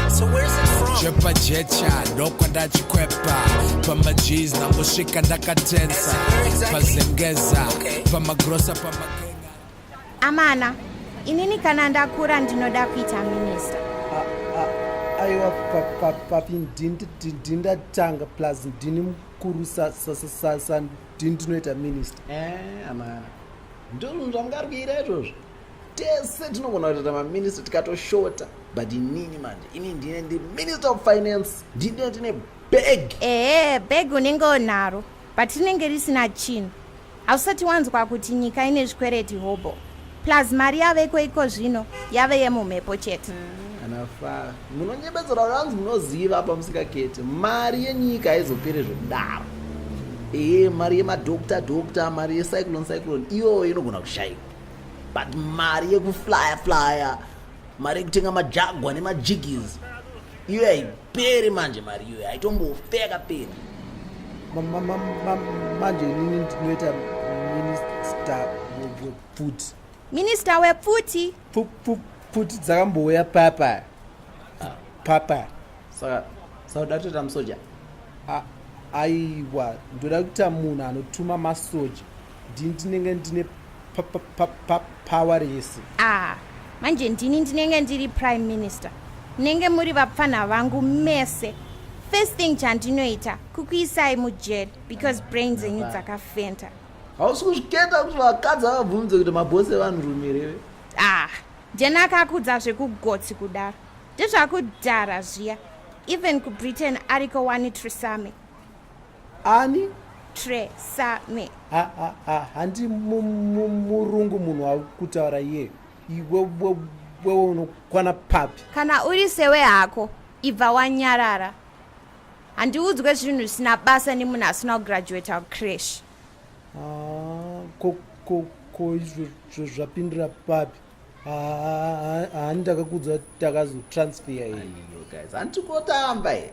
So where's it from? Chepa jecha ndokwa ndachikwepa pamajeez ndangosvika ndakatensa pazengeza pamagrosa pamagenga Amana, inini kana ndakura ndinoda kuita minista. aiwa papi ndindatanga plus ndini mukuru sandinoita minista Eh, amana. Ndozvo zvamukarwira izvozvo. tese tinogona kutoita maminista tikatoshota but inini manje ini ndine ndi minister of finance ndine tine bag ehe bag unenge onaro but rinenge risina chinhu hausati wanzwa kuti nyika ine zvikwereti hobo plus mari yaveko iko zvino yave yemumhepo chete anafa munonyebedzera kuti anzi munoziva apa musikaketi mari yenyika haizopere zvekudaro ehe mari yemadokta dokta mari yecyclone cyclone iyoyo inogona kushaikwa but mari yekuflya flya mari yekutenga majagwa nemajigis iyo haiperi manje mari iyoyo haitombofe yakaperi manje inini ndinoita minista wepfuti minista wepfuti pfuti dzakambouya papa ah. papa saka saka datoita musoja aiwa ndoda kuita munhu anotuma masoja ndini ndinenge ndine power rese ah manje ndini ndinenge ndiri prime minister munenge muri vapfanha vangu mese first thing chandinoita kukuisai mujeri because brain dzenyu dzakafenta hausi kuzviketa kuti vakadzi avabvunze kuti mabhose evanhu rumirewe ah ndiyani akakudza zvekugotsi kudaro ndezvakudhara zviya even kubritain ariko wani trisame ani tre same handi murungu munhu akutaura iye iwewe unokwana papi kana uri sewe hako ibva wanyarara handiudzwe zvinhu zvisina basa nemunhu asina kugraduata kucrash ah, ko izvo zvapindira papi haani takakudzwa takazotransfer iyohanditikotamba here